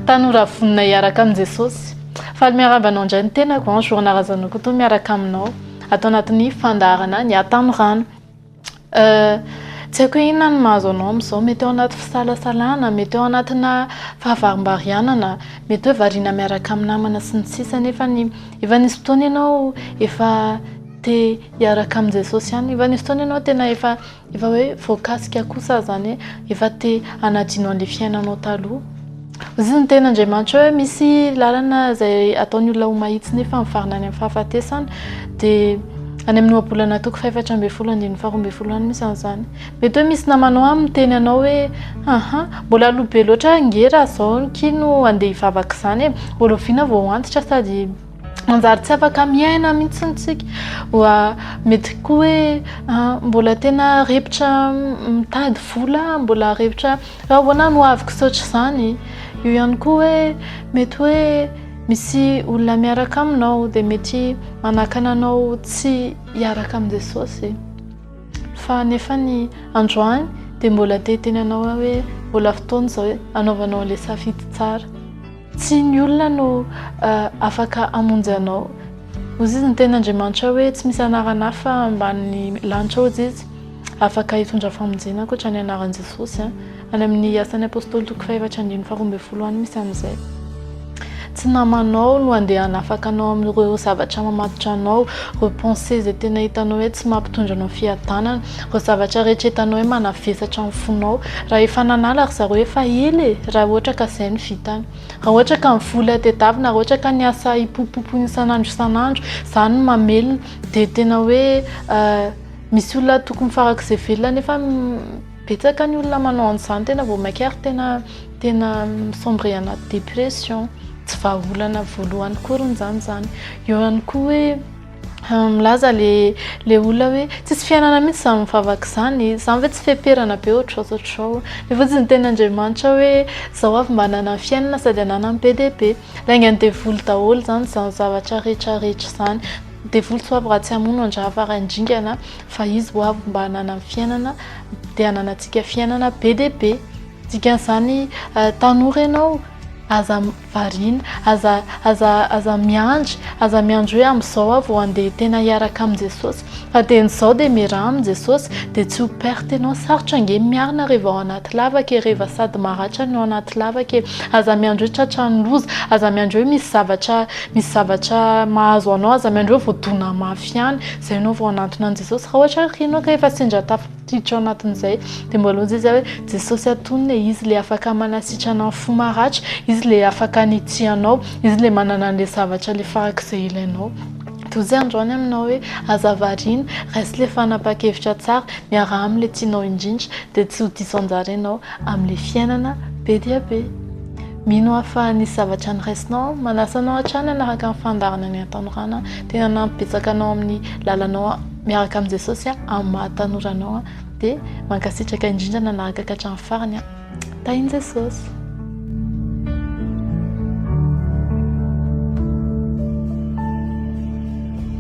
Tanora vonona hiaraka amin'i Jesosy. Faly miarahaba anao indray ny tenako an, Joana Razanokoto miaraka aminao ato anatin'ny fandaharana ny Atanorano. Euh, tsy haiko hoe inona ny mahazo anao amin'izao, mety ao anaty fisalasalana, mety ao anatina fahavarimbarianana, mety hoe variana miaraka amin'ny namana sy ny sisa nefa ny efa nisy fotoana ianao efa te hiaraka amin'i Jesosy ihany, efa nisy fotoana ianao tena efa Efa hoe voakasika kosa aho zany hoe efa te hanadino an'le fiainanao taloha. Hoy ny tenin'Andriamanitra hoe misy lalana izay ataon'ny olona ho mahitsy nefa mivarina any amin'ny fahafatesana dia any amin'ny ohabolana toko fahefatra ambin'ny folo andininy faharoa ambin'ny folo any misy an'izany. Mety hoe misy namanao any miteny anao hoe haha mbola aloha be loatra ange raha izao ny kihy no andeha hivavaka izany e, ho rahoviana vao ho antitra sady manjary tsy afaka miaina mihitsy ny tsika oa mety koa hoe ah, mbola tena repotra mitady vola mbola repotra raha ahoana no aviko saotra izany io ihany koa hoe mety hoe misy olona miaraka aminao dia mety manakana anao tsy hiaraka amin'i jesosy fa nefa ny androany dia mbola te tena anao hoe mbola fotoana izao hoe anaovanao ilay safidy tsara Tsy ny olona no afaka hamonjy anao. Hoy izy ny teny Andriamanitra hoe tsy misy anarana hafa ambanin'ny lanitra hoy izy afaka hitondra famonjena ankoatra ny anaran'i Jesosy. Any amin'ny asan'ny Apôstôly toko fahaefatra andininy faharoa ambin'ny folo any misy an'izay. Tsy namanao no andeha hanafaka anao amin'ireo zavatra mamatotra anao, ireo pensées izay tena hitanao hoe tsy mampitondra anao fiadanana. Ireo zavatra rehetra hitanao hoe manavesatra ny fonao, raha efa nanala ry zareo efa ela e, raha ohatra ka izay no vitany. Raha ohatra ka ny vola tedavina, raha ohatra ka ny asa hipopopopoina isan'andro isan'andro, izany no mamelona, dia tena hoe misy olona tokony farak'izay velona nefa betsaka ny olona manao an'izany tena vao mainka ary tena tena mi-sombrer anaty dépression. Tsy vahaolana voalohany akory izany izany. Eo ihany koa hoe. Milaza le le olona hoe tsisy fiainana mihitsy izany mivavaka izany, izany ve tsy feperana be ohatr'izao izao ohatr'izao. Mivotsy ny tenin'Andriamanitra hoe zao avy mba ananany fiainana sady ananany be dia be. Laingan'ny devoly daholo izany izany zavatra rehetra rehetra izany. Ny devoly tsy ho avy raha tsy hamono an-drahavara handringana fa izy ho avy mba ananany fiainana dia ananantsika fiainana be dia be. Dikan'izany tanora ianao aza Variana. Aza, aza, aza miandry, aza miandry hoe amin'izao aho vao handeha tena hiaraka amin'i Jesosy. Fa dia ny izao dia miaraha amin'i Jesosy, dia tsy ho perte ianao. Sarotra ange ny miarina reva ao anaty lavaka e, reva sady maratra ny ao anaty lavaka e. Aza miandry hoe tratran'ny loza, aza miandry hoe misy zavatra, misy zavatra mahazo anao, aza miandry hoe voadona mafy ihany izay ianao vao hanantona an'i Jesosy. Raha ohatra ary ianao ka efa sendra tafa. Tsotra ao anatin'izay dia mbola hoy Jesoa hoe Jesosy atonina e, Izy ilay afaka manasitrana ny fo maratra, Izy ilay afaka hanitsianao, Izy ilay manana an'ilay zavatra ilay farak'izay ilainao. Dia hoy Izy androany aminao hoe aza variana, raiso ilay fanapahan-kevitra tsara, miaraha amin'ilay tianao indrindra, dia tsy ho diso anjara ianao amin'ilay fiainana be dia be. Mino aho fa nisy zavatra noraisinao, manasa anao hatrany hanaraka ny fandaharana ny hatanorana, tena hanampy betsaka anao amin'ny lalanao. Miaraka amin'i Jesosy aho amin'ny maha tanora anao dia mankasitraka indrindra nanaraka ka hatramin'ny farany aho. Tahin'i Jesosy.